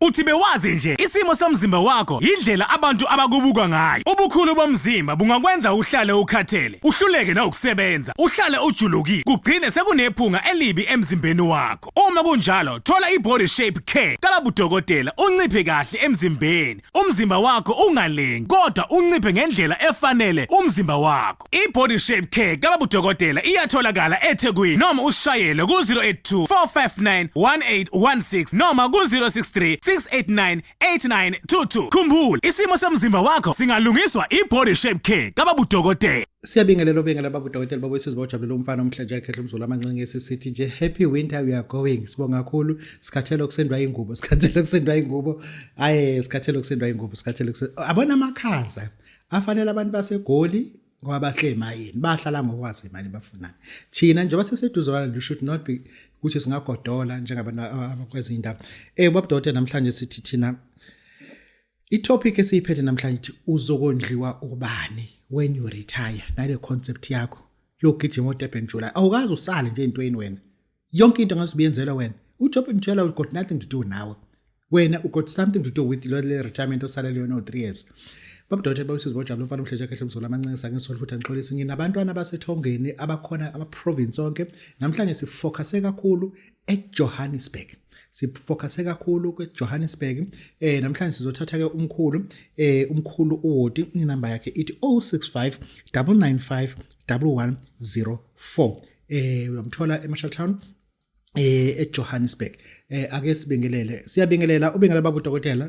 Uthi bewazi nje isimo somzimba wakho yindlela abantu abakubuka ngayo. Ubukhulu bomzimba bungakwenza uhlale ukhathele, uhluleke nawukusebenza, uhlale ujulukile, kugcine sekunephunga elibi emzimbeni wakho. Uma kunjalo, thola i-body shape care kababudokotela unciphe kahle emzimbeni. Umzimba wakho ungalengi kodwa unciphe ngendlela efanele umzimba wakho. yakho. I-Body Shape Care kababudokotela iyatholakala eThekwini noma usishayele ku-082 459 1816 noma ku-063 689 8922. Khumbula, isimo somzimba wakho singalungiswa i-Body Shape Care kababudokotela. Siyabingelela obengela baba udokotela baba wesizwe bawujabulele umfana omhlanje yakhe umzulu amancinge sisithi nje happy winter we are going sibonga kakhulu sikhathele ukusendwa ingubo sikhathele ukusendwa ingubo aye sikhathele ukusendwa ingubo sikhathele abona amakhaza afanele abantu basegoli ngoba bahle emayini bahlala ngokwazi imali bafunani thina njengoba seseduzwana you should not be ukuthi singagodola njengabantu abakwezinye indawo eh babudode namhlanje sithi thina itopic esiyiphethe namhlanje ithi uzokondliwa ubani when you retire nale concept yakho yogijima odebhenjula awukazi usale nje intweni wena yonke into ngaze uyenzelwe wena ujob mtshela u got nothing to do nawe wena u got something to do with lo le retirement osalele yona o3 years babudothe bawusizi bojabula umfana umhleje kahle umzulu amancinisa ngisolo futhi angixolisi nginabantwana basethongeni abakhona ama province onke namhlanje sifocuse kakhulu eJohannesburg sifocuse kakhulu kweJohannesburg eh namhlanje sizothatha ke umkhulu eh umkhulu uWodi inamba yakhe ithi 065 995 1104 eh uyamthola eMarshall Town eh eJohannesburg eh ake sibingelele siyabingelela ubingelela babu dokotela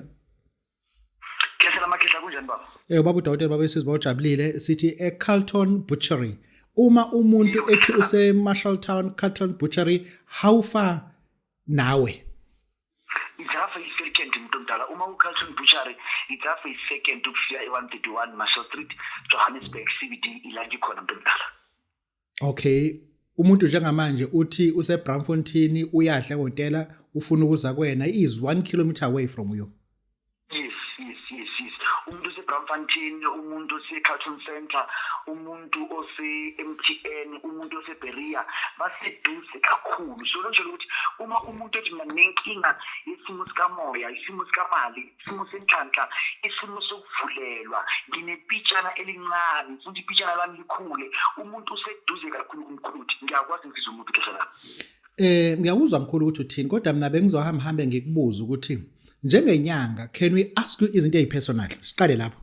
Khehla makhehla kunjani baba Eh babu dokotela baba sizwa ujabulile sithi eCarlton Butchery uma umuntu ethi use Marshall Town Carlton Butchery how far nawe Ijafa isecond umuntu omdala uma uCarlton Butchery ijafa isecond ukufika e131 Marshall Street Johannesburg CBD ilangi khona umuntu omdala okay umuntu njengamanje uthi useBramfontein uyadla hotela ufuna ukuza kwena is 1 kilometer away from you yes yes yes yes umuntu useBramfontein umuntu oseCarlton Center umuntu ose-MTN umuntu oseBeria baseduze kakhulu so lonje ukuthi uma umuntu ethi mina nenkinga yesimo sikamoya isimo sikamali isimo senhlanhla isimo sokuvulelwa nginepitshana elincane futhi ipitshana lami likhule umuntu useduze kakhulu kumkhuluthi ngiyakwazi ngizizwa umuntu kudlala eh ngiyakuzwa mkhulu ukuthi uthini kodwa mina bengizohamba hambe ngikubuza ukuthi njengenyanga can we ask you izinto ezipersonal siqale lapho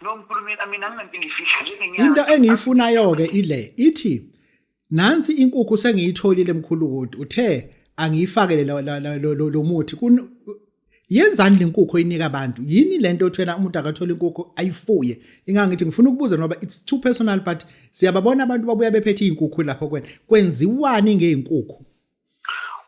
no mkhulu mina mina nginanto engifihla njengenyanga into engiyifunayo ke ile ithi nansi inkukhu sengiyitholile mkhulu kodwa uthe angiyifakele lo muthi yenzani lenkukhu oyinika abantu yini lento othwena umuntu akathola inkukhu ayifuye ingangithi ngifuna ukubuza ngoba it's too personal but siyababona abantu babuya bephethe izinkukhu lapho kwena kwenziwani ngeenkukhu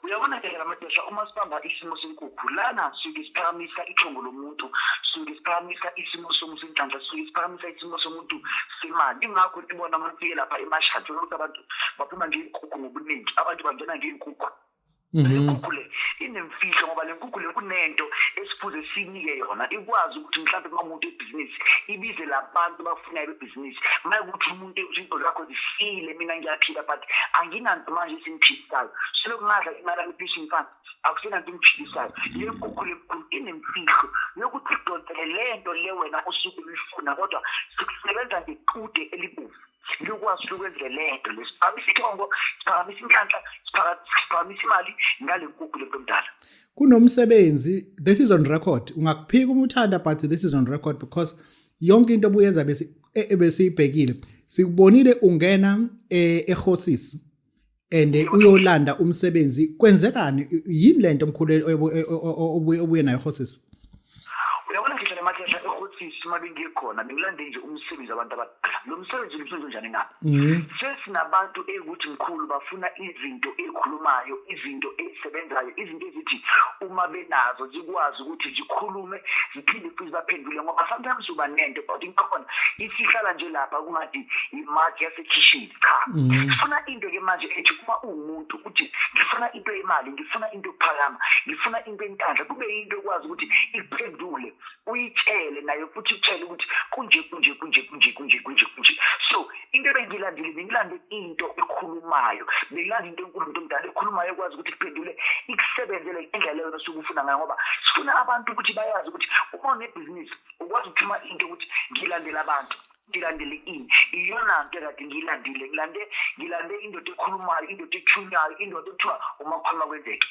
uyabona ke ngamadoda uma sibamba isimo senkukhu lana suke siphakamisa ithongo lomuntu suke siphakamisa isimo somuntu inhlanhla suke siphakamisa isimo somuntu semali ingakho sibona abantu ke lapha emashadi ukuthi abantu baphuma ngeenkukhu ngobuningi abantu bangena ngeenkukhu mhm. lenkukhu le inemfihlo ngoba le nkukhu le kunento esifuze sinike yona ikwazi ukuthi mhlawumbe uma umuntu ebhizinisi ibize labantu bafunayo bebhizinisi uma ukuthi izinto zakho zifile mina ngiyaphila but anginanto manje esingiphilisayo selokhu ngadla imali yami pension fund akusenanto engiphilisayo le nkukhu lenkulu inemfihlo yokuthi idonsele le nto le wena osuke uyifuna kodwa sikusebenza ngequde elibomvu likwazi ukwenzela le nto le siphakamisa ithongo siphakamisa inhlanhla siphakamisa imali ngale nkukhu le nto mdala kunomsebenzi this is on record ungakuphika uma uthanda but this is on record because yonke into obuyenza bese e, e, besiyibhekile sikubonile ungena e, ehosis and uyolanda umsebenzi kwenzekani yini lento omkhulu obuye nayo hosis uyabona ngisho le mathesha ehosis uma bengikhona bengilande nje umsebenzi abantu abadala lo msebenzi umsebenzi onjani na mm-hmm. sesinabantu ekuthi mkhulu bafuna izinto ezikhulumayo izinto ezisebenzayo izinto ezithi uma benazo zikwazi ukuthi zikhulume ngiphinde futhi baphendule ngoba sometimes uba nento kodwa into khona isihlala nje lapha kungathi imaki yasekhishini cha mhm. sifuna into ke manje ethi uma uwumuntu uthi ngifuna into yemali ngifuna into yokuphakama ngifuna into entandla kube yinto ekwazi ukuthi iphendule uyitshele nayo futhi utshele ukuthi kunje kunje kunje kunje kunje kunje kunje so into ebengilandile bengilande into ekhulumayo bengilande into enkulu umuntu omdala ekhulumayo ekwazi ukuthi kuphendule ikusebenzele indlela yona osuke ufuna ngayo ngoba sifuna abantu ukuthi bayazi ukuthi uma unebhizinisi ukwazi ukuthuma into ukuthi ngilandela abantu ngilandele ini iyona nto kade ngiyilandile ngilande ngilande indoda ekhulumayo indoda ethunywayo indoda ekuthiwa uma kukhuluma kwenzeke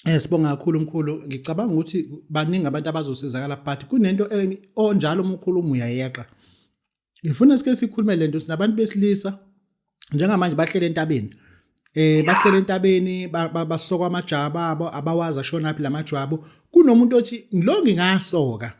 Eh sibonga kakhulu mkhulu ngicabanga ukuthi baningi abantu abazosizakala but kunento onjalo umkhulu uyayeqa ngifuna sike sikhulume lento sinabantu besilisa njengamanje bahlele entabeni eh bahlele entabeni basoka amajaba abo abawazi ashona phi lamajwabu kunomuntu othi lo ngingasoka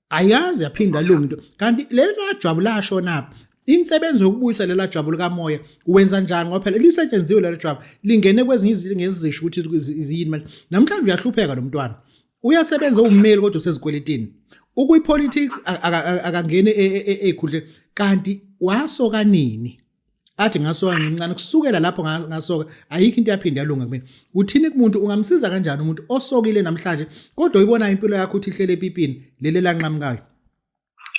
ayazi yaphinda lungu into kanti lelo jwabu lashona phi insebenzo yokubuyisa lela jwabu likamoya wenza njani ngoba phela lisetshenziwe lelo jwabu lingene kwezinye izinto ngezisho ukuthi ziyini manje namhlanje uyahlupheka lo mntwana uyasebenza ummeli kodwa usezikweletini ukuyipolitics akangene ezikhundleni e, e, e, kanti wasoka nini athi ngasoka ngimncane kusukela lapho ngasoka ayikho into yaphinde yalunga kumina uthini kumuntu ungamsiza kanjani umuntu osokile namhlanje kodwa uyibona impilo yakho uthi ihlele epipini leli lanqamukayo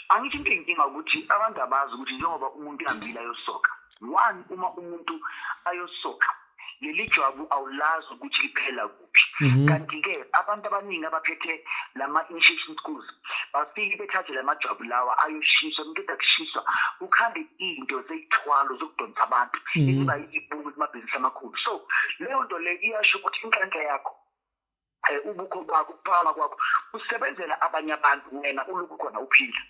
angithi into inkinga ukuthi abantu abazi ukuthi njengoba umuntu ihambile ayosoka one uma umuntu ayosoka leli jwabu awulazi ukuthi liphela kuphi mhm. kanti-ke abantu abaningi abaphethe lama-initiation schools bafike bethathe la majwabu lawa ayoshiswa umuntu ezakushiswa kukhambe into zeyithwalo zokudonsa abantu mhm. eziba yibungu kumabhizinisi amakhulu so leyo nto le iyasho ukuthi inhlanhla yakho eh, ubukho bakho ukuphakama kwakho usebenzela abanye abantu wena ulokhu khona uphila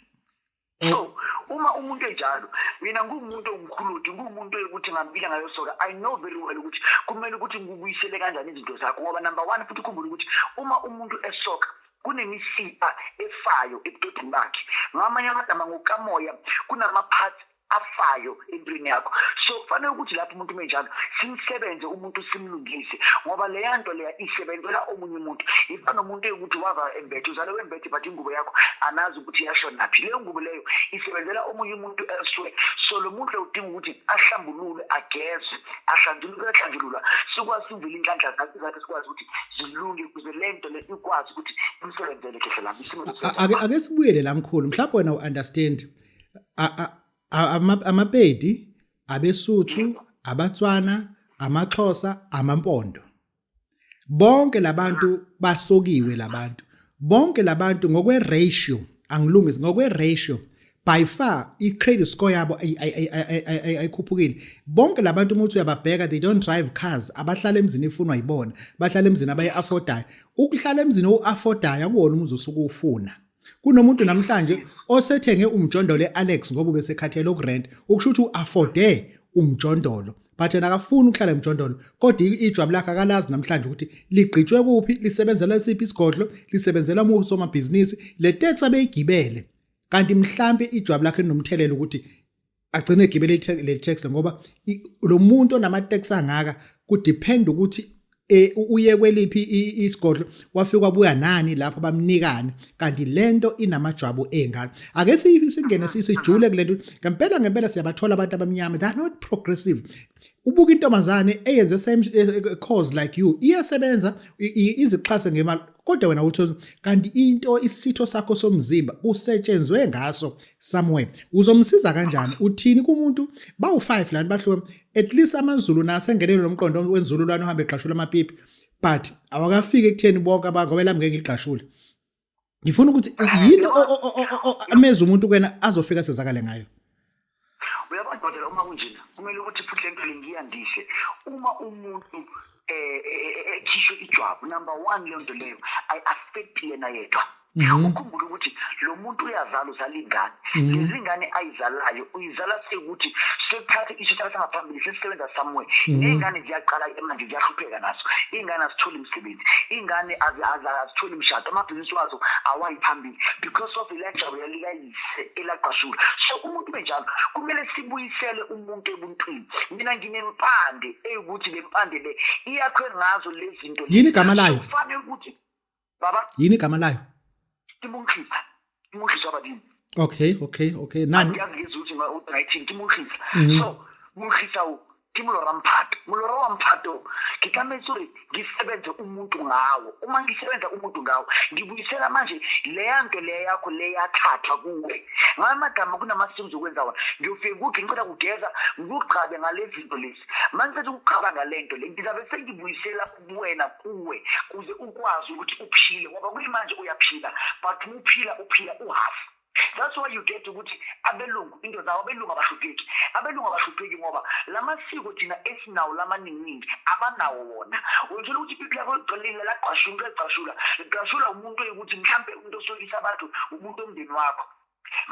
eh. so uma umuntu enjalo mina ngumuntu ongikhuludi ngumuntu ukuthi ngampila ngayo soka i know very well ukuthi kumele ukuthi ngikubuyisele kanjani izinto zakho ngoba number one futhi ukhumbule ukuthi uma umuntu esoka kunemisipha efayo ebudodeni bakhe ngamanye amagama ngokamoya kunama-parts afayo empilweni yakho so kufanele ukuthi lapho umuntu menjalo simsebenze umuntu simlungise ngoba leya nto leya isebenzela omunye umuntu iba nomuntu ekuthi wava embethe uzale wembethe but ingubo yakho anazi ukuthi yasho naphi leyo ngubo leyo isebenzela omunye umuntu elsewhere so lo muntu udinga ukuthi ahlambulule ageze ahlanjuluke ahlanjulula sikwazi ukuvela inhlanhla zakhe zakhe sikwazi ukuthi zilunge kuze le nto le ikwazi ukuthi imsebenzele khehlelami ake sibuyele la mkhulu mhlawumbe wena u-understand amapedi abesuthu abatswana amaxhosa amampondo bonke labantu basokiwe labantu bonke labantu ngokwe ratio angilungisi ngokwe ratio by far i-credit score yabo ayikhuphukile bonke labantu umuthi uyababheka they don't drive cars abahlala emzini ifunwa yibona bahlala emzini abayi-affordayo ukuhlala emzini owu-affordayo akuwona umuzi osuke uwufuna kunomuntu namhlanje osethenge umjondolo e-alex ngoba ubesekhathele ukurent ukusho ukuthi u-afode umjondolo but yena akafuni ukuhlala emjondolo kodwa ijwabu lakhe akalazi namhlanje ukuthi ligqitshwe kuphi lisebenzela siphi isigodlo lisebenzela umufi somabhizinisi le tax abeyigibele kanti mhlampe ijwabu lakhe linomthelela ukuthi agcine egibele le tax ngoba lo muntu onama tax angaka ku depend ukuthi e, uye kweliphi isigodlo wafika kwabuya nani lapho bamnikani kanti lento inamajwabu engane ake singene sisijule kulento ngempela ngempela siyabathola abantu abamnyama they are not progressive ubuka intombazane eyenze same eh, eh, cause like you iyasebenza izixhase ngemali kodwa wena uthi kanti into isitho sakho somzimba kusetshenzwe ngaso somewhere uzomsiza kanjani uthini kumuntu bawu5 lani bahluke at least amazulu nase ngenelo lomqondo wenzululwane uhambe egqashula amapipi but awakafiki ekutheni bonke abantu ngoba lami ngeke igqashule ngifuna ukuthi yini ameza umuntu kuyena azofika sezakale ngayo uyabona dokotela uma kunjena kumele ukuthi futhi lento lengiya ndihle uma umuntu eh, eh, eh, ekhishwe ijwabu number 1 lento leyo i affect yena yedwa mhm. ukhumbula ukuthi lo muntu uyazala uzala ingane mhm. lezi ngane ayizalayo uyizala sekuthi sekuthathe isithatha sangaphambili sesisebenza somewhere mhm. ney'ngane ziyaqala manje ziyahlupheka nazo iy'ngane azitholi imisebenzi iy'ngane azitholi imishado amabhizinisi wazo awayi phambili because of electoral ise elaqashula so umuntu benjalo kumele sibuyisele umuntu ebuntwini mina nginempande eyukuthi le mpande le iyakhwe ngazo lezi zinto yini igama layo kufanele ukuthi baba yini igama layo imunhlisa imunhlisa abadini okay okay okay nani uyazi ukuthi ma u-19 imunhlisa mhm. so munhlisa ke molora mphato molora wa mphato ke tlametse gore ke sebenze umuntu ngawo uma ngisebenza umuntu ngawo ngibuyisela manje leya nto leya yakho leyathathwa kuwe ngala magama kunama-streams okwenza wona ngiyofika kuthi ngicela kugeza ngikugqabe ngale zinto lezi ma ngicela ukugqaba ngale nto le ngizabe sengibuyisela kuwena kuwe kuze ukwazi ukuthi uphile ngoba kuyimanje uyaphila but uphila uphila uhafu that's why you get ukuthi abelungu into zawo abelungu abahlupheki abelungu abahlupheki ngoba la masiko thina esinawo lamaninginingi abanawo wona wenzela ukuthi ipipi lakho ligcilile lagqashula into egqashula ligqashula umuntu oyikuthi mhlawumbe umuntu osokisa abantu umuntu omndeni wakho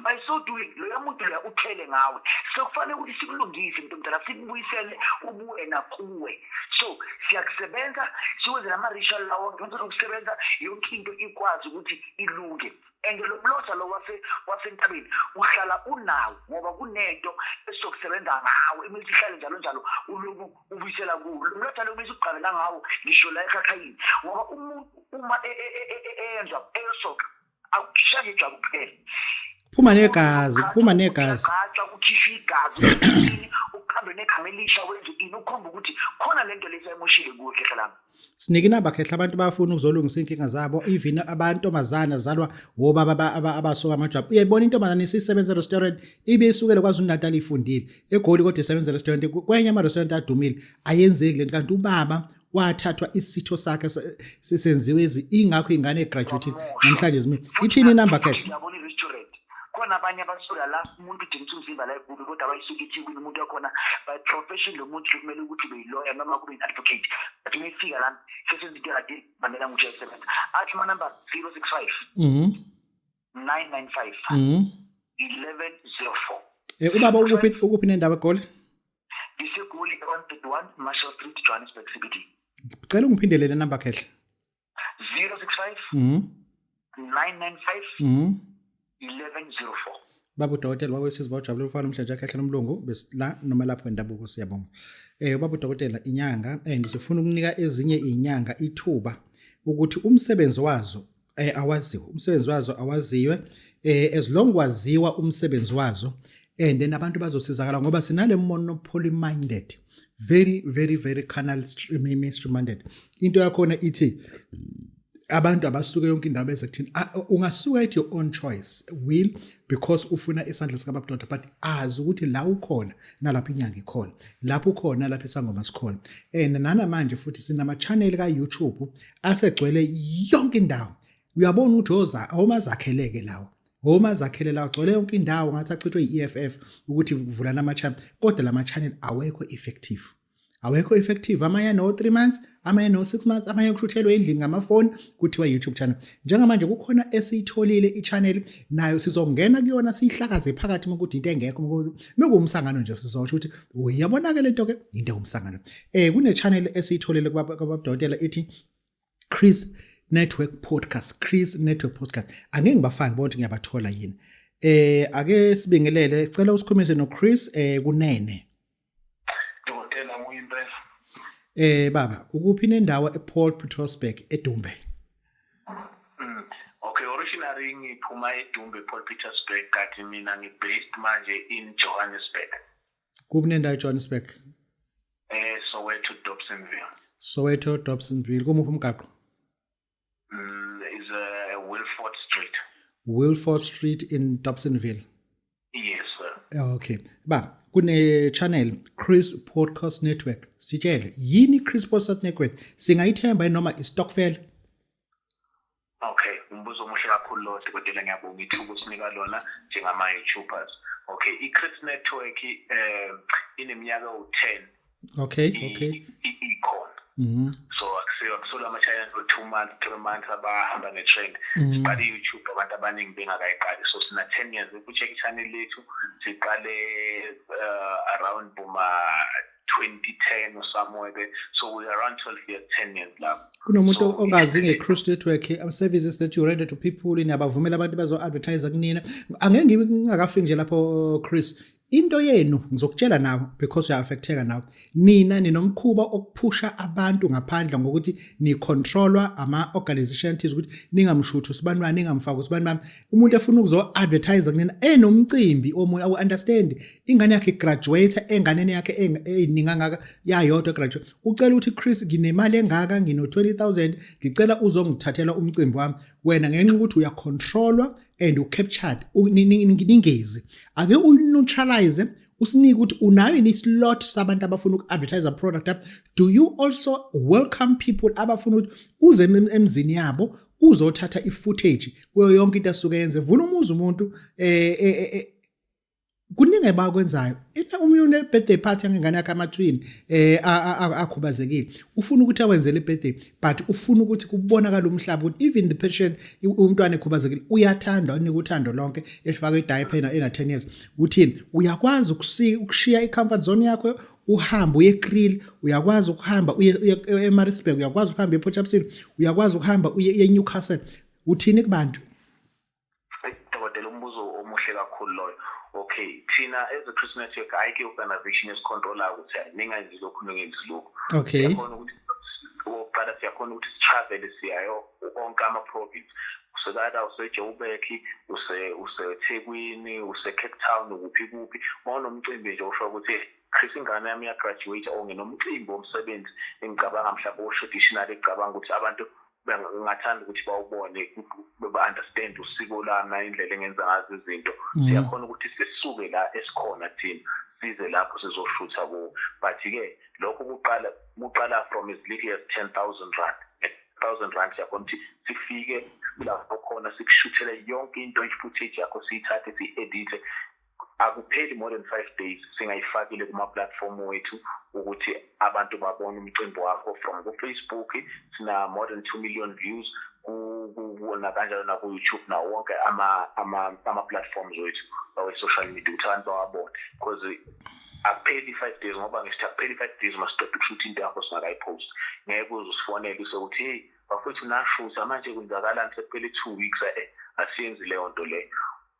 by so doing loyo muntu loya uthele ngawe sekufanele ukuthi sikulungise mntu mdala sikubuyisele ubuwena kuwe so siyakusebenza siwenze nama-ritual lawo ngenza lokusebenza yonke into ikwazi ukuthi ilunge and lo mlotha lo wase wasentabeni uhlala unawo ngoba kunento esizokusebenza ngawo imithi ihlale njalo njalo uloku ubuyisela kuwo lo mlotha lo bese uqale nangawo ngisho la ekhakhayini ngoba umuntu uma e, e, e, eyenza eyosoka akushaya ijwabu kuphela phuma negazi phuma negazi gatsha kukhishwa igazi uqhambe negama elisha wenza ini ukhomba ukuthi khona lento lesayimushile kuhle hlalami sinike inamba khehla abantu bafuna ukuzolungisa inkinga zabo even abantomazana zalwa wobaba abasuka amajwabu uyayibona intombazane isisebenza restaurant ibe isukele kwaZulu Natal ifundile egoli kodwa isebenza restaurant kwenye ama restaurant adumile ayenzeki lento kanti ubaba wathathwa isitho sakhe sisenziwe ingakho ingane egraduate namhlanje zimile ithini inamba khehla khona abanye abasuka la umuntu udingisa umzimba la egulu kodwa abayisuke ithikwini umuntu wakhona by profession lo muntu kumele ukuthi ube yiloya noma kube yi-advocate but uma ifika lami sesenzinto ekade bamela nguthi yayisebenza athi umanumber zero six five mhm. nine nine five mhm. eleven zero four um ubaba ukuphi nendawo egoli ngisegoli one thirty one marshall street johannesburg cbd cela ungiphindelele number khehle 065 mm 995 mm 1104 baba udokotela baba wesizwe bawujabule umfana umhlanje akhe ahlala umlungu besila noma lapho endabuko siyabonga eh baba udokotela inyanga and eh, sifuna ukunika ezinye inyanga ithuba ukuthi umsebenzi wazo eh awaziwe umsebenzi wazo awaziwe eh as long kwaziwa umsebenzi wazo and then abantu bazosizakala ngoba sinale mono poly minded very very very canal mainstream minded into yakhona ithi abantu abasuke yonke indaba eze kuthini ah, ungasuka at your own choice will because ufuna isandla sikababudoda but azi ukuthi la ukhona nalapho inyanga ikhona lapho ukhona lapho isangoma sikhona and nanamanje futhi sinama-channel ka-youtube asegcwele yonke indawo uyabona ukuthi oza awumazakheleke lawo home azakhele la ugcwele yonke indawo ngathi achithwe yi-EFF ukuthi kuvulana ama-channel kodwa lama channel awekho effective awekho effective amanye ano 3 months amanye no 6 months amanye kushuthelwe endlini ngamafoni kuthiwa YouTube channel njengamanje kukhona esiyitholile i-channel nayo sizongena kuyona siyihlakaze phakathi ukuthi into engekho mekuwumsangano nje sizosho ukuthi uyabonakala into ke into ewumsangano eh kune channel esiyitholile kwababdokotela ithi Chris Network Podcast Chris Network Podcast angeke ngibafake ngibona ukuthi ngiyabathola yini eh ake sibingelele cela usikhulumise no Chris eh kunene Dokotela Muyimpela Eh baba ukuphi nendawo ePaul Petersburg eDumbe mm, Okay originally ngiphuma eDumbe Paul Petersburg kanti mina ngibased manje in Johannesburg kuphi nendawo ejohannesburg eh soweto dobsonville soweto dobsonville kumuphi umgaqo mm, is a uh, wilford street wilford street in dobsonville yes sir okay ba kune-channel chris podcast network sitshele yini i-chris podcast network singayithemba noma istokfela Okay, umbuzo omuhle kakhulu lo dokotela ngiyabonga ithuba usinika lona njengama YouTubers. Okay, iChris Network eh ineminyaka u10. Okay, okay. Ikhona. Mhm. So akusiyo akusola ama channel for 2 months, 3 months abahamba ne trend. Mhm. But iYouTube abantu abaningi bengakayiqali. So sina 10 years ukucheck channel lethu siqale eh, around boma 2010 or somewhere there. So we're around 12 years, 10 years lapho. Kunomuntu so, ongazi nge-Cruise Network um, services that you render to people niyabavumela abantu bazo-advertise kunina. Angeke ngibe ngingakafiki nje lapho Chris. Into yenu ngizokutshela nawe because uya-affecteka nawe. Nina ninomkhuba okuphusha abantu ngaphandle ngokuthi nicontrolwa ama-organization thize ukuthi ningamshuthu sibani bani ningamfaki usibani bami. Umuntu efuna ukuzo-advertise kunina enomcimbi omunye awu-understand ingane yakhe graduate enganeni yakhe eyiningi angaka yayodwa graduate ucela ukuthi Chris nginemali engaka ngino 20000 ngicela uzongithathela umcimbi wami wena ngenxa ukuthi uya controller and u captured ningezi ake u neutralize usinike ukuthi unayo yini slot sabantu abafuna uku advertise product up do you also welcome people abafuna ukuthi uze emzini yabo uzothatha i footage kuyo yonke into asuke yenze vuna umuzi umuntu eh, eh, eh, eh kuningi ebakwenzayo ina uma une birthday party ngengane yakhe amathwini eh akhubazekile ufuna ukuthi awenzele birthday but ufuna ukuthi kubonakala umhlaba ukuthi even the patient umntwana ekhubazekile uyathandwa unika uthando lonke efaka idiaper ena ena 10 years uthini uyakwazi ukushiya icomfort zone yakho uhamba uye eKrill uyakwazi ukuhamba uye eMaritzburg uyakwazi ukuhamba ePort Shepstone uyakwazi ukuhamba uye eNewcastle uthini kubantu dokotela umbuzo omuhle kakhulu loyo okay thina as a christian network ayikho i-organization esicontrola ukuthi hayi ningenzi lokhu ningenzi lokhu okay siyakhona ukuthi okokuqala siyakhona ukuthi sitravele siyayo onke ama-province usekada usejoburg usethekwini usecape town kuphi kuphi ma unomcimbi nje usho ukuthi chris ingane yami iyagraduate or nginomcimbi womsebenzi engicabanga mhlawumbe o-traditional ecabanga ukuthi abantu ngingathanda ukuthi bawubone ba-understand usiko lami nayindlela engenza ngazo izinto mm. siyakhona ukuthi sisuke la esikhona thina size lapho sizoshutha kuwo but-ke lokho kuqala kuqala from as little as ten thousand rand thousand rand siyakhona ukuthi sifike lapho khona sikushuthele yonke into i-footage yakho siyithathe siyi-edithe akupheli more than five days singayifakile kuma-platform wethu ukuthi abantu babone umcimbi wakho from kufacebook sina-more than two million views nakanjalo naku-youtube nawo wonke ama-platforms wethu awe-social media ukuthi abantu bawabone because akupheli i-five days ngoba ngisithi akupheli i-five days masiqeda ukushuthi into yakho singakayipost ngeke uze usifonele usekuthi heyi bafowethu nashusa manje kwenzakalani sekuphele i-two weeks e-e asiyenzi leyo nto leyo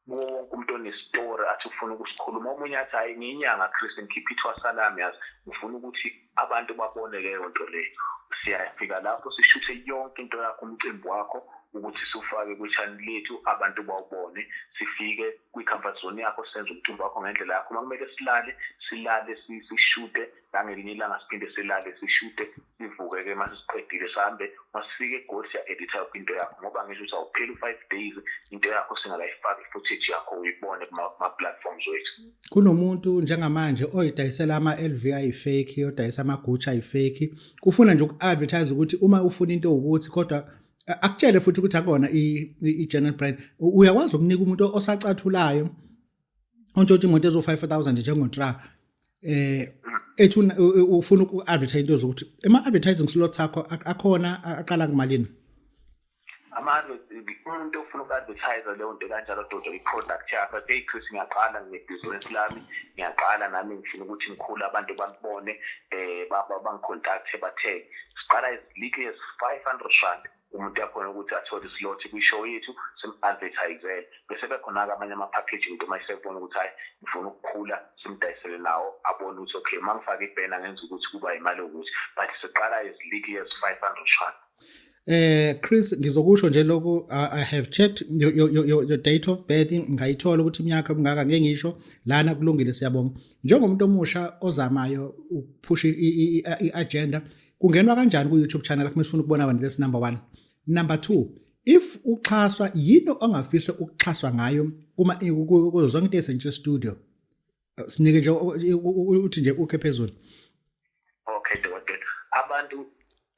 kuwo wonke umuntu onestori athi ufuna ukusikhuluma omunye athi hhayi ngiyinyanga chris ngikhiphe ithwasa lami yazi ngifuna ukuthi abantu babone leyo nto leyo siyafika lapho sishuthe yonke into yakho umcimbi wakho ukuthi sufake kwi-channel lethu abantu bawubone sifike kwi-comfort zone yakho senze umcimbi wakho ngendlela yakho uma kumele silale silale sishute nangelinye ilanga siphinde silale sishute sivuke-ke uma sesiqedile sihambe uma sifike egoli siya-editha yonke into yakho ngoba ngisho ukuthi awupheli u-five days into yakho singakayifaki i-footage yakho uyibone kuma-platforms wethu kunomuntu njengamanje oyidayisela ama-l v ayifeki yodayisa amagutsha ayifeki ufuna nje uku-advertise ukuthi uma ufuna into ukuthi kodwa akutshele futhi ukuthi akona i-general brand uyakwazi ukunika umuntu osacathulayo ontshontsha imoto ezo 5000 njengontra eh ethi ufuna uku advertise into zokuthi ema advertising slots akho akhona aqala kumalini amanje umuntu ofuna uku-advertise leyo nto kanjalo dodo i-product yakho athe chris ngiyaqala nginebhizinisi lami ngiyaqala nami ngifuna ukuthi ngikhule abantu bangibone um eh, bangicontacthe bathenge siqala as little as five hundred rand umuntu uyakhona ukuthi athole islot kwi-show yethu sim-advertisele bese bekhona-ke amanye ama-package umuntu uma esebona ukuthi hhayi ngifuna ukukhula simdayisele nawo abone ukuthi okay uma ngifake ibhena ngenza ukuthi kuba yimali yokuthi but siqala as little as five hundred rand Eh Chris ngizokusho nje lokhu I have checked your, your, your, your date of birth ngayithola ukuthi iminyaka mingaka ngeke ngisho lana kulungile siyabonga njengomuntu omusha ozamayo ukuphusha i-agenda kungenwa kanjani ku YouTube channel yakho mesifuna ukubona abantu this number 1 number 2 if uxhaswa yini ongafisa ukuxhaswa ngayo kuma kuzo zonke into esentshe studio sinike nje uthi nje ukhe phezulu okay dokotela abantu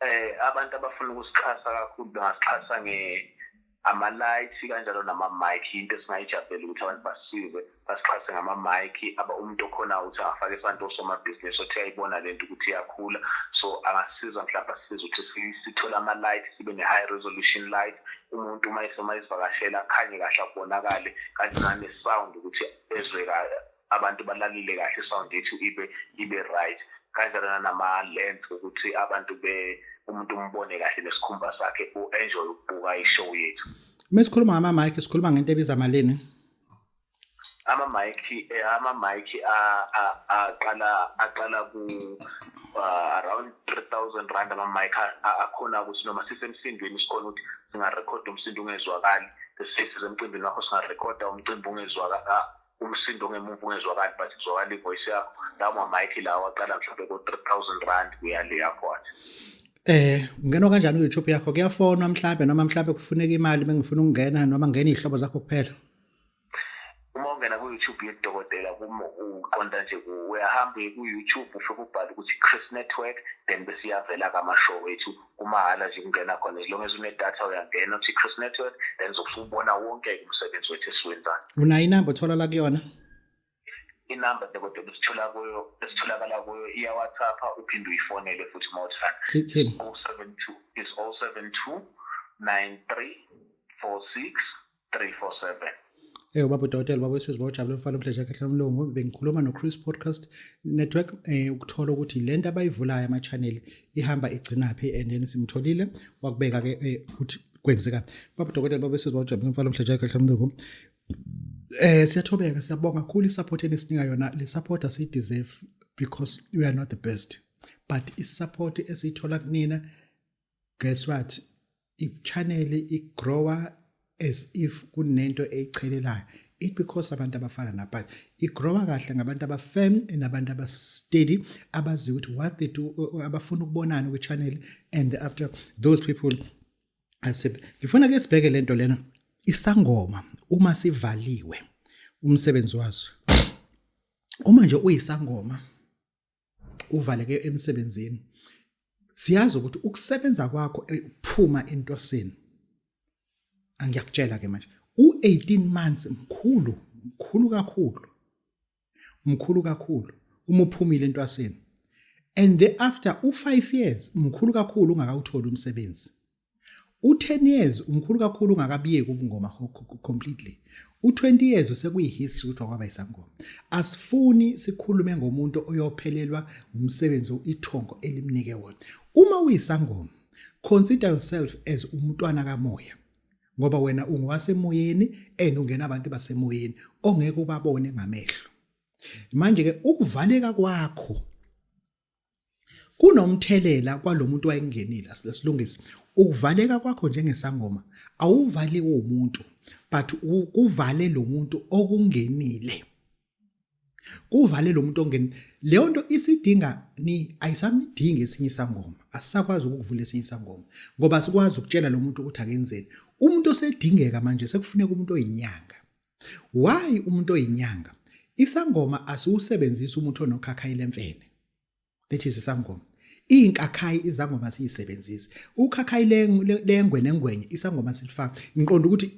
eh abantu abafuna ukusixhasa kakhulu bangasixhasa nge ama-light kanjalo nama-mike into esingayijabhela ukuthi abantu basize basixhase ngama-mike aba umuntu okhona ukuthi angafake isandla osomabhizinisi othi ayibona le nto ukuthi iyakhula so angasiza mhlawumbe asize ukuthi sithole ama-light sibe ne-high resolution light umuntu uma esoma izivakashela akhanye kahle akubonakale kanti nane-sound ukuthi ezwe abantu balalile kahle sound yethu ibe ibe right kanjalo nama lens ukuthi abantu be umuntu umbone kahle nesikhumba sakhe u enjoy ukubuka i show yethu mesikhuluma ngama mic sikhuluma ngento ebiza malini ama mic eh, ama mic aqala aqala ku uh, around 3000 rand ama mic akhona ukuthi noma sisemsindweni sikhona ukuthi singa record umsindo ungezwakali sesise emcimbini wakho singa record umcimbi ungezwakali umsindo ongemuva ungezwakali but kuzwakala ivoice yakho lawo mamike lawo aqala mhlawumbe ko-three thousand rand kuya le yakhona Eh ungena kanjani ku-YouTube yakho kuyafonwa mhlambe noma mhlambe kufuneka imali bengifuna ukungena noma ngena izihlobo zakho kuphela uma ungena ku-YouTube yedokotela uqonda nje uyahamba ku-YouTube ufike ubhale ukuthi Chris Network then bese iyavela-ke amashow wethu kumahhala nje kungena khona as long as unedatha uyangena uthi cross network then zokusubona wonke umsebenzi wethu esiwenzayo unayo inamba otholala kuyona inamba kodwa besithola kuyo besitholakala kuyo iya WhatsApp uphinde uyifonele futhi uma uthanda 072 is 072 93 46 Eyo baba udokotela baba wesizwe bawujabule mfana umdleja kahle lomlungu bengikhuluma noChris Podcast Network eh ukuthola ukuthi lento abayivulayo ama channel ihamba igcinaphi and then simtholile wakubeka ke eh, ukuthi kwenzeka baba udokotela baba wesizwe bawujabule mfana umdleja kahle lomlungu Eh siyathobeka siyabonga kakhulu isupport enisinika yona le support asi deserve because we are not the best but isupport esiyithola kunina guess what i-channel i-grower as if kunento eyichelelayo it because abantu abafana nabhazi igrowa kahle ngabantu abafirm nabantu abasteady abazi ukuthi what they do abafuna ukubonana kwi-channel and after those people ngifuna ke sibheke le nto lena isangoma uma sivaliwe umsebenzi waso uma nje uyisangoma uvaleke emsebenzini siyazi ukuthi ukusebenza kwakho eh, ukuphuma entosini angiyakutshela ke manje u18 months mkhulu mkhulu kakhulu mkhulu kakhulu uma uphumile entwasini and thereafter u5 years mkhulu kakhulu ungakawutholi umsebenzi u-10 years umkhulu kakhulu ungakabiyeki ubungoma completely u-20 years usekuyi-history ukuthi wakwaba isangoma asifuni sikhulume ngomuntu oyophelelwa ngumsebenzi ithongo elimnike wona uma uyisangoma consider yourself as umntwana kamoya ngoba wena ungowasemoyeni and ungena abantu basemoyeni ongeke ubabone ngamehlo manje-ke ukuvaleka kwakho kunomthelela kwalomuntu wayengenile silungisa ukuvaleka kwakho njengesangoma awuvali umuntu but kuvale lo muntu okungenile kuvale lo muntu ongeni leyo nto isidinga ni ayisamidingi esinye isangoma asisakwazi ukuvula esinye isangoma ngoba sikwazi ukutshela lo muntu ukuthi akenzeni umuntu osedingeka manje sekufuneka umuntu oyinyanga Why umuntu oyinyanga? Isangoma asiwusebenzisa umuntu onokhakhayi lemfene. That is isangoma. Inkakhayi izangoma siyisebenzisa. Ukhakhayi lengwe nengwenye isangoma silifaka. Ngiqonda ukuthi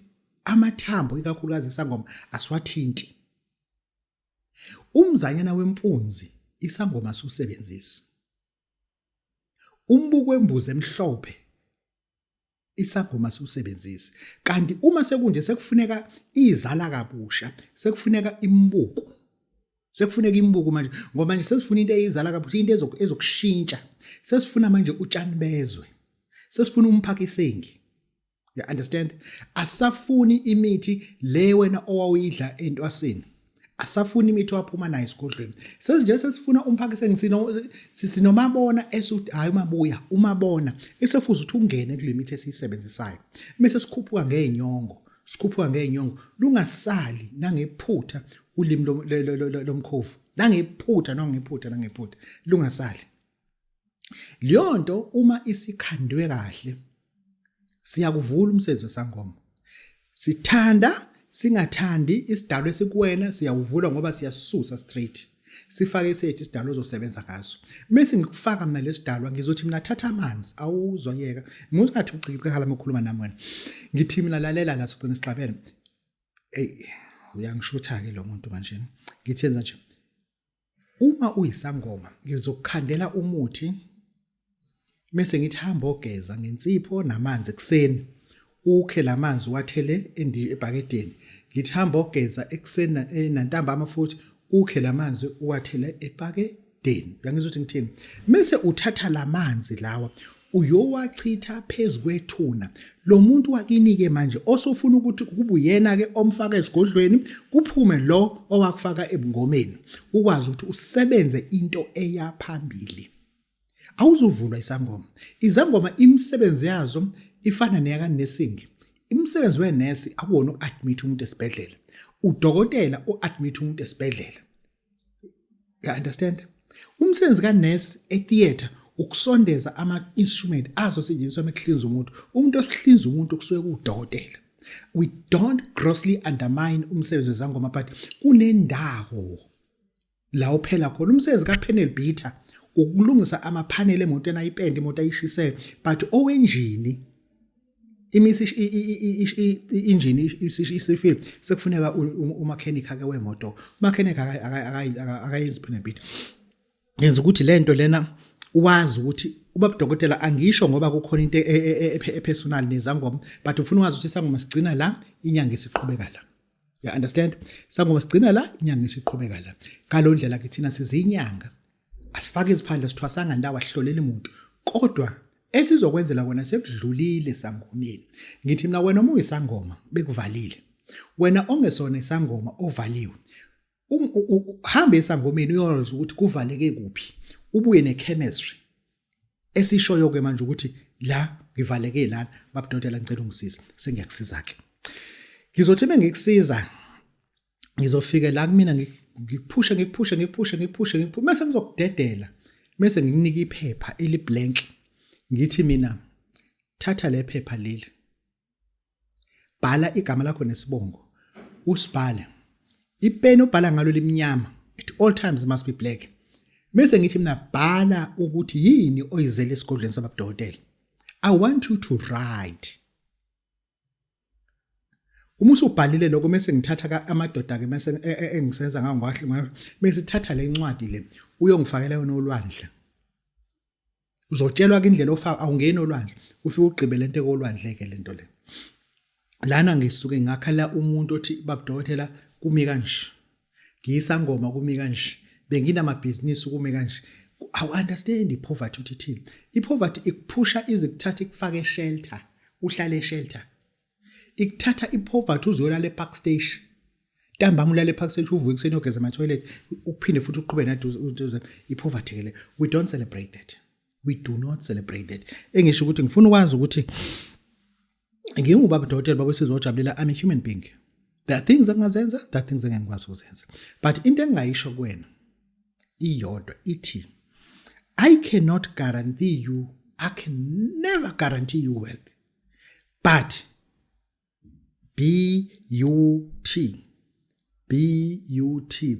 amathambo ikakhulukazi isangoma aswathinti. Umzanyana wempunzi isangoma siwusebenzisa. Umbuko wembuzi emhlophe isagoma siwusebenzise kanti uma sekunje sekufuneka izala kabusha sekufuneka imbuku sekufuneka imbuku manje ngoba manje sesifuna into eyizala kabusha into ezokushintsha sesifuna manje utshani bezwe sesifuna umphaka isengi you understand asafuni imithi le wena owawuyidla entwasini asafuni imithi waphuma nayo esigodlweni sezinje sesifuna umphakise ngisino sinomabona esuthi hayi umabuya umabona esefuza ukuthi ungene kule mithi esiyisebenzisayo mase sikhuphuka ngeenyongo sikhuphuka ngeenyongo lungasali nangephutha ulimi lomkhovu nangephutha nangephutha nangephutha lungasali leyo nto uma isikhandwe kahle siyakuvula umsebenzi wesangoma sithanda singathandi isidalo esikuwena siyawuvula ngoba siyasusa straight sifake isethi isidalo ozosebenza ngaso bese ngikufaka mina lesidalwa ngizothi mina thatha amanzi awuzwa yeka umuntu ngathi ucikicikhala mokhuluma nami wena ngithi mina lalela la sogcina isixabene ey uyangishutha ke lo muntu manje ngithenza nje uma uyisangoma ngizokukhandela umuthi mese ngithi hamba ogeza ngensipho namanzi ekuseni ukhe lamanzi wathele ebhakedeni ngithi hamba ogeza ekuseni eh, nantambama futhi ukhe lamanzi uwathele ebhakedeni uyangizwa ukuthi ngithini mese uthatha lamanzi lawa uyowachitha phezu kwethuna lo muntu wakini-ke manje osofuna ukuthi kube uyena-ke omfaka esigodlweni kuphume lo owakufaka ebungomeni ukwazi ukuthi usebenze into eya phambili awuzuvulwa isangoma izangoma imisebenzi yazo ifana neyakanesingi imisebenzi wenesi akuwona uku-admit umuntu esibhedlela udokotela u-admit umuntu esibhedlela ya understand umsebenzi ka nurse e theater ukusondeza ama instrument azosetshenziswa mekuhlinza umuntu umuntu ohlinza umuntu kusuke kudokotela we don't grossly undermine umsebenzi wezangoma but kunendawo la uphela khona umsebenzi ka panel beater ukulungisa ama panel emotweni ayipende imoto ayishisayo but owenjini imisi injini isifile sekufuneka umakhenikha ke wemoto umakhenikha akayenzi phela impilo yenza ukuthi le nto lena wazi ukuthi ubaba dokotela angisho ngoba kukhona into epersonal nezangoma but ufuna wazi ukuthi sangoma sigcina la inyanga isiqhubeka la ya understand sangoma sigcina la inyanga isiqhubeka la ngalondlela ke thina sizinyanga asifake iziphandla sithwasanga ndawo ahlolele umuntu kodwa esizokwenzela kona sekudlulile sangomeni ngithi mina wena uma uyisangoma bekuvalile wena ongesona isangoma ovaliwe um, hambe esangomeni uyozwa ukuthi kuvaleke kuphi ubuye nechemistry esishoyo ke manje ukuthi la ngivaleke lana babudodela ngicela ungisiza sengiyakusiza ke ngizothi mengikusiza ngizofike la kumina ngikuphushe ngikuphushe ngikuphushe ngikuphushe ngikuphushe mase ngizokudedela mase ngikunika iphepha eli blank ngithi mina thatha le phepha leli bhala igama lakho nesibongo usibhale ipeni obhala ngalo limnyama at all times must be black mase ngithi mina bhala ukuthi yini oyizele esigodlweni sababudokotela i want you to write uma usubhalile lokho mese ngithatha amadoda ke mese e, e, engisenza ngangwahle ngayo mese thatha le ncwadi le uyongifakela yona olwandle uzotshelwa ke indlela ofaka awungeni olwandle ufike ugqibe lento ekolwandle ke lento le lana ngisuke ngakhala umuntu othi babudokotela kumi kanje ngiyisangoma kumi kanje benginamabhizinisi kume kanje awu-understand i-poverty ukuthi ithini i-poverty ikuphusha ize kuthatha ikufake eshelter uhlale eshelter ikuthatha i-poverty uzoyolala epark station ntambama ulale epark station uvuke ekuseni ogeza ama-toilet uphinde futhi uqhube naduze i-poverty ke le we don't celebrate that we do not celebrate that engisho ukuthi ngifuna ukwazi ukuthi ngingubaba udokotela baba wesizwe ojabulela i'm a human being there are things engingazenza there are things engingikwazi ukuzenza but into engingayisho kuwena iyodwa ithi i cannot guarantee you i can never guarantee you wealth but b u t b u t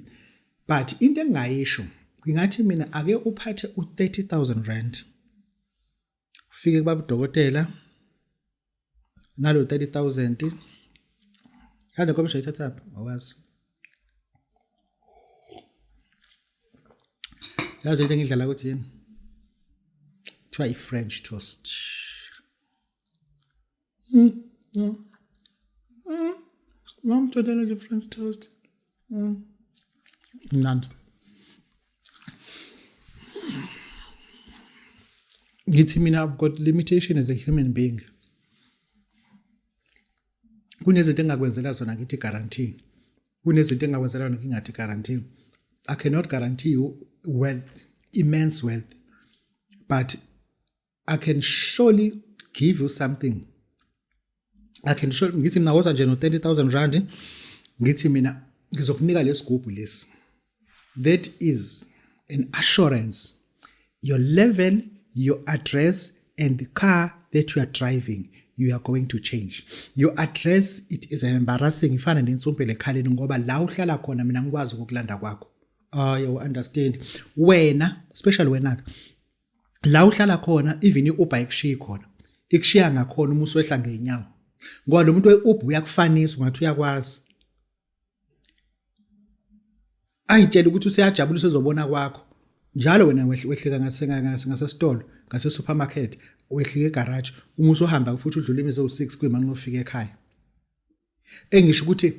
but into engingayisho ngingathi mina ake uphathe u30000 rand ufike kubaba udokotela nalo 30000 kanti nkomsho ithatha phi awazi yazi into engidlala ukuthi yini kuthiwa i-french toast Mm, yeah. Mm. Lamb totally different taste. Mm. Mnandi. Ngithi mina I've got limitation as a human being. Kunezinto engakwenzela zona ngithi guarantee. Kunezinto engakwenzela zona ngingathi guarantee. I cannot guarantee you wealth, immense wealth. But I can surely give you something I can show ngithi mina woza nje no 30000 rand ngithi mina ngizokunika lesigubhu lesi that is an assurance your level your address and the car that you are driving you are going to change your address it is an embarrassing ifana nensumpele ekhaleni ngoba la uhlala khona mina ngikwazi ukukulanda kwakho ayo uh, understand wena especially wena la uhlala khona even i-uber ikushiyi khona ikushiya ngakhona uma uswehla ngey'nyawo ngoba lo muntu we-uber uyakufanisa ungathi uyakwazi ayitshela ukuthi useyajabula usezobona kwakho njalo wena wehlika ngasesitolo ngasesupermarket wehlika egaraji uma usuhamba futhi udlula imizi ewu-six kwimani lofika ekhaya engisho ukuthi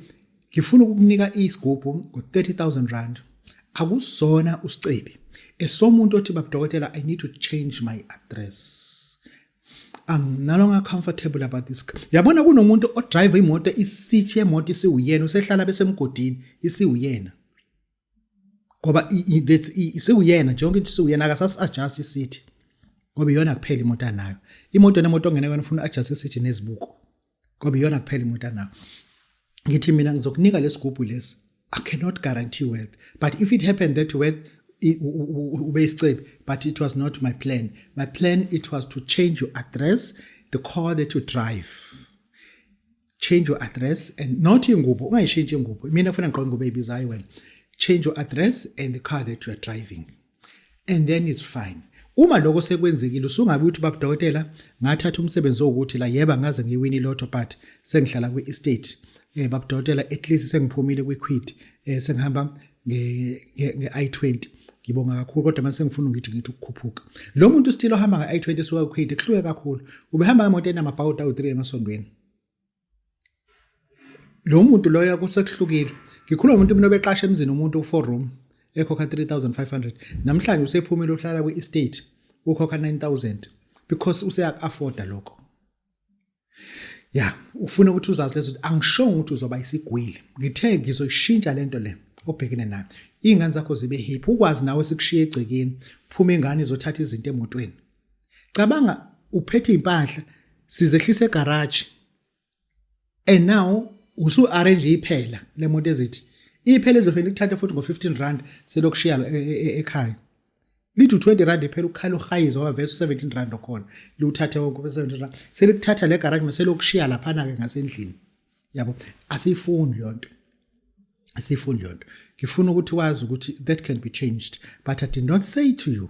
ngifuna ukukunika isigubhu ngo-30000 rand akusona usicebi esomuntu othi babudokotela i need to change my address I'm no longer comfortable about this yabona kunomuntu odrive imoto isithi yemoto isiwuyena usehlala besemgodini isiwuyena ngoba isiwuyena nje yonke into isiwuyena akasasi adjust isithi ngoba iyona kuphela imoto anayo imoto nemoto ongene kwena ufuna adjust isithi nezibuko ngoba iyona kuphela imoto anayo ngithi mina ngizokunika lesigubhu lesi i cannot guarantee you wealth but if it happened that wealth ube isicebi but it was not my plan my plan it was to change your address the car that you drive change your address and not ingubo ungayishintsha ingubo mina ngifuna ngigqoke ingubo eyibizayo wena change your address and the car that you are driving and then it's fine uma lokho sekwenzekile usungabe uthi baba dokotela ngathatha umsebenzi wokuthi la yeba ngaze ngiwini lotto but sengihlala kwi estate eh baba dokotela at least sengiphumile kwi quid eh sengihamba nge nge i20 ngibonga kakhulu kodwa mase ngifuna ngithi ngithi ukukhuphuka lo muntu still ohamba nge i20 suka ku quid kuhluke kakhulu ubehamba ngemoto enamabhawuda u3 emasondweni lo muntu loyo kusekuhlukile ngikhuluma umuntu mina obeqasha emzini umuntu u-four room ekhokha 3500 namhlanje usephumile uhlala kwi-estate ukhokha 9000 because useyaku-afforda lokho ya ufuna ukuthi uzazi lezo angishongo ukuthi uzoba isigwili ngithe ngizoyishintsha lento le obhekene nayo iy'ngane zakho zibe hiphi ukwazi nawe sikushiye egcekeni phuma ingane izothatha izinto emotweni cabanga uphethe impahla sizehlisa egarage and now usu arrange iphela lemoto ezithi iphela ezofela ikuthatha futhi ngo 15 rand selokushiya e, e, e, ekhaya lithi 20 rand iphela ukukhala uhayiza wavesa 17 rand okhona liwuthathe wonke 17 rand selikuthatha le garage meselokushiya laphana ke ngasendlini yabo asiyifuni leyonto asiyifuni leyonto ngifuna ukuthi wazi ukuthi that can be changed but i did not say to you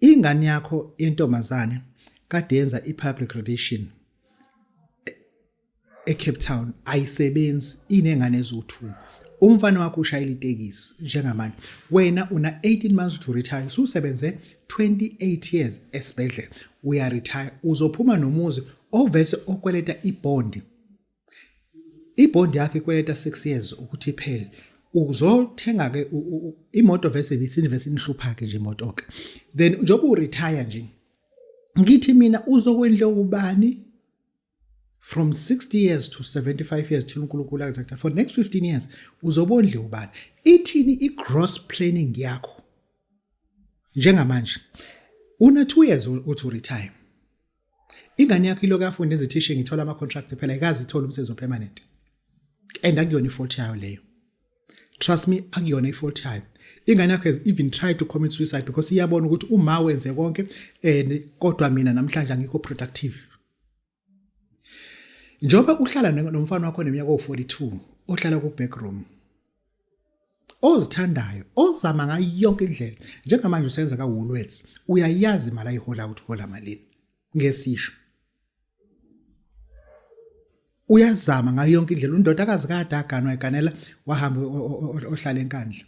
ingane yakho yentombazane kade yenza i-public relation eCape Town ayisebenzi inengane eziwu2 umfana wakho ushayela itekisi njengamanje wena una 18 months to retire ususebenze 28 years esibhedlela uya retire uzophuma nomuzi ovese okweleta ibond ibond yakhe ikweleta 6 years ukuthi iphele uzothenga ke imoto vese ibisinivese inihlupha ke nje imoto ke then njengoba u retire nje ngithi mina uzokwendle ubani from 60 years to 75 years thina uNkulunkulu akuthatha for next 15 years uzobondle ubani ithini i gross planning yakho njengamanje una 2 years uthi retire ingane yakho ilokhu yafunda ezithishe ngithola ama-contract phela ikazi ithola umsebenzi opermanent and akuyona ifault yayo leyo trust me akuyona ifault yayo ingane yakho has even tried to commit suicide because iyabona ukuthi uma wenze konke and kodwa mina namhlanje angikho productive njengoba uhlala nomfana wakho neminyaka owu-42 ohlala ku-backroom ozithandayo ozama ngayo yonke indlela njengamanje usenza ka Woolworths uyayazi imali ayihola ukuthi hola malini ngesisho uyazama ngayo yonke indlela undodakazi kade aganwa eganela wahamba ohlala enkandla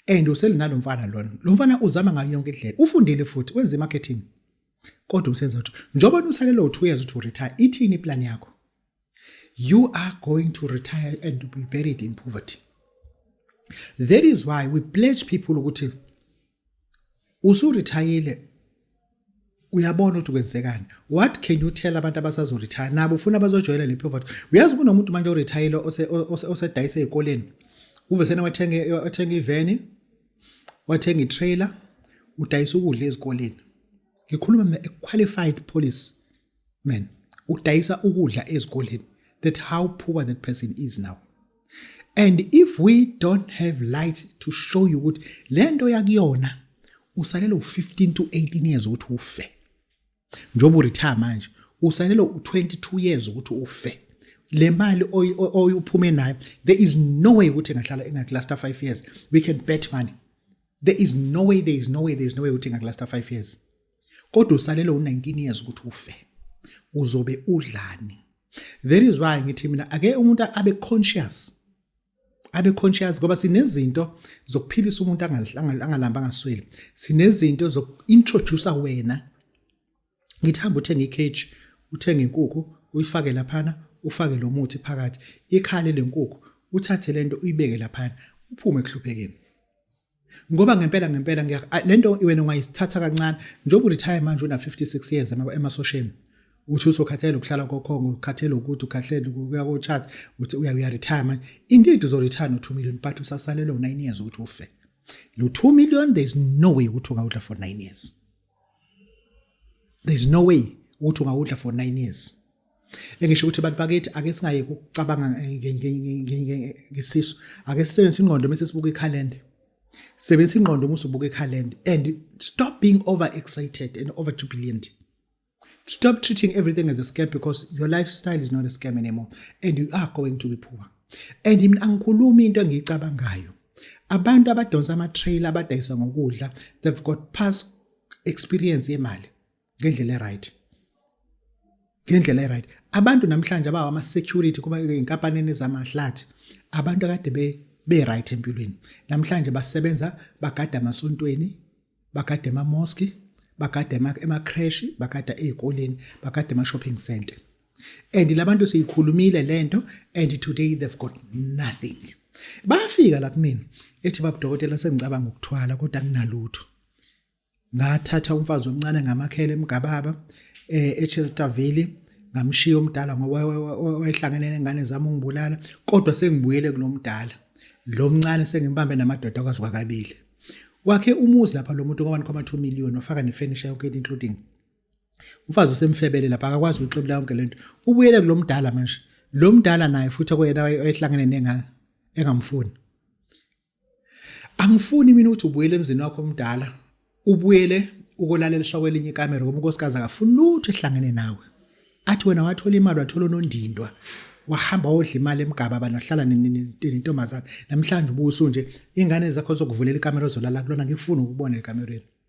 and uselinalo mfana lona lo mfana uzama ngayo yonke indlela ufundile futhi wenza marketing kodwa umsebenzi wathi njengoba usalelo 2 years uthi retire ithini iplan yakho you are going to retire and be buried in poverty that is why we pledge people ukuthi usurithayile uyabona ukuthi kwenzekani what can you tell abantu abasazoretire nabo ufuna bazojoyela le poverty uyazi kunomuntu manje orithayile osedayise ezikoleni uvesena wathenga iveni wathenga itrailer udayisa ukudla ezikoleni ngikhuluma mina a qualified police man udayisa ukudla ezikoleni that how poor that person is now and if we don't have light to show you ukuthi le nto yakuyona usalele u-15 to 18 years ukuthi ufe njengoba uretire manje usalele u-22 years ukuthi ufe le mali oyuphume nayo there is no way ukuthi engahlala engakulasta 5 years we can bet money there is no way there is no way there is no way ukuthi engakulasta 5 years kodwa usalele u19 years ukuthi ufe uzobe udlani that is why ngithi mina ake umuntu abe conscious abe conscious ngoba sinezinto zokuphilisa umuntu angalamba angasweli sinezinto zokuintroduce wena ngithi hamba uthenge icage uthenge inkukhu uyifake laphana ufake lo muthi phakathi ikhale lenkukhu uthathe lento uyibeke laphana uphume ekuhluphekeni ngoba ngempela ngempela le nto wena ungayisithatha kancane njengoba uretire manje una-56 years emasosheni uthi usokhathele ukuhlala kokhongo ukhathele ukuthi ukhahlele ukuya kotshat uthi uyaretire manje indeed uzoretire no-2 million but usasalelwe u-9 years ukuthi ufe lo 2 million there is no way ukuthi ungawudla for 9 years there's no way ukuthi ungawudla for 9 years engisho ukuthi abantu bakithi ake singaye kucabanga ngesisu ake sisebenzise ingqondo bese sibuka ikhalenda sebenzisa ingqondo uma usubuka ikhalenda and stop being over excited and over jubilant stop treating everything as a scam because your lifestyle is not a scam anymore and you are going to be poor and mina angikhulumi into engiyicabangayo Abantu abadonsa ama-trailer abadayisa ngokudla they've got past experience yemali ngendlela e-right. Ngendlela e-right. Abantu namhlanje abawa ama-security kuba inkampanini zamahlathi abantu akade be be-right empilweni. Namhlanje basebenza bagada amasontweni, bagada ema-mosque, bagada ema-creche, bagada ey'koleni, bagada ema-shopping centre. and labantu siyikhulumile lento and today they've got nothing bafika la kumina ethi baba dokotela sengicabanga ukuthwala kodwa kunalutho ngathatha umfazi omncane ngamakhele emgababa eh eChester Valley ngamshiya omdala ngoba wayehlangene nengane zami ungibulala kodwa sengibuyele kulomdala lo mncane sengimbambe namadoda kwazi kwakabili wakhe umuzi lapha lo muntu kwabantu kwama 2 million wafaka ne furniture yonke including umfazi usemfebele lapha akakwazi ukuxebula yonke lento ubuyele kulomdala manje lo mdala naye futhi okuyena ehlangene nengane engamfuni angifuni mina ukuthi ubuyele emzini wakho omdala ubuyele ukolaleliswa kwelinye ikamera ngoba unkosikazi akafuni lutho ehlangene nawe athi wena wathola imali wathola unondindwa wahamba wodla imali emgaba abantu ahlala nentombazana namhlanje ubuso nje ingane zakho zokuvulela ikamera ozolala kulona ngikufuna ukubona ekamereni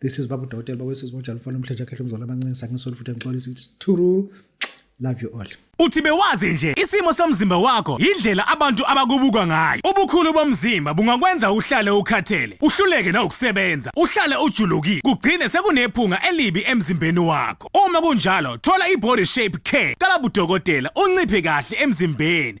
this is babu dokotela bakwesizwe bonjalo mfana omhlanje akhehle umzwala amancinci sangisoli futhi angixolisi ukuthi thuru love you all Uthi bewazi nje isimo somzimba wakho yindlela abantu abakubuka ngayo. Ubukhulu bomzimba bungakwenza uhlale ukhathele, uhluleke nawukusebenza, uhlale ujulukile, kugcine sekunephunga elibi emzimbeni wakho. Uma kunjalo, thola i-body shape care kalabudokotela unciphe kahle emzimbeni,